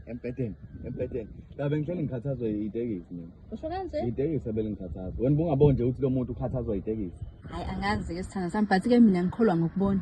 embhedeni embhedeni la bengihleli ngikhathazwe yitekisi mina usho kanje yitekisi ebelingikhathaza wena bungaboni nje ukuthi lo muntu ukhathazwa yitekisi hayi angazi-ke sithanda sami but-ke mina ngikholwa ngokubona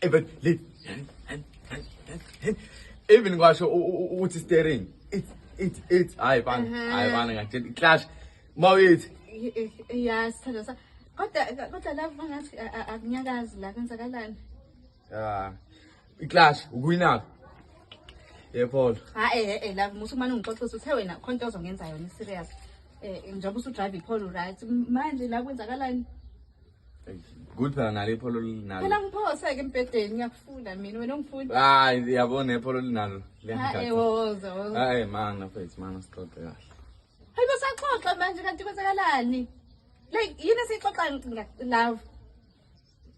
even leave even kwasho ukuthi steering it it it hayi bana mhm. hayi bana ngakutshela iclash mawithi ya sithando sa kodwa kodwa la ngathi akunyakazi la kwenzakalani ya iclash ukuyinaka yepolo ha eh eh la musu manje ngixoxisa uthe wena khona into ozongenza yona serious eh njengoba usudrive ipolo right manje la kwenzakalani Good nalo ipholo linalo. Phela ngiphose ke embhedeni ngiyakufuna mina wena ungifuni. Hayi uyabona ipholo linalo. Hayi woza woza. Hayi mana mfethu mana sixoxe kahle. Hayi basaxoxa manje kanti kwenzakalani? Like yini esixoxa love?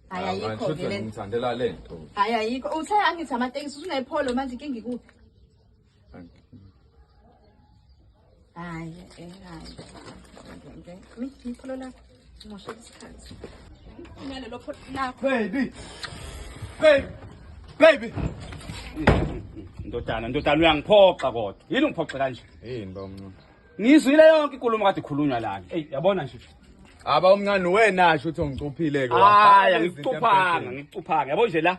Hayi ah, ayikho ke le. Ngithandela lento. Hayi ayikho. Uthe angithi amatekisi usunepholo manje inkinga ikuphi? Hayi, eh, hayi. Nje, mi, ipholo lakho. Ngimoshe isikhathi. Nalelo pholo lakho. Baby. Baby. Baby. Ndodana, ndodana uyangiphoxa kodwa. Yini ungiphoxe kanje? Yini ba umncane? Ngizwile yonke inkulumo kade ikhulunywa lana. Ey, yabona nje. Aba umncane wena asho ukuthi ungicuphile ke. Hayi, angikucuphanga, ngikucuphanga. Yabo nje la.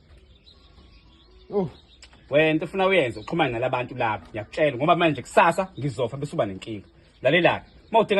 Oh. Wena into ufuna uyenze uxhumane nalabantu lapho. Ngiyakutshela ngoba manje kusasa ngizofa bese uba nenkinga. Lalelani. Uma udinga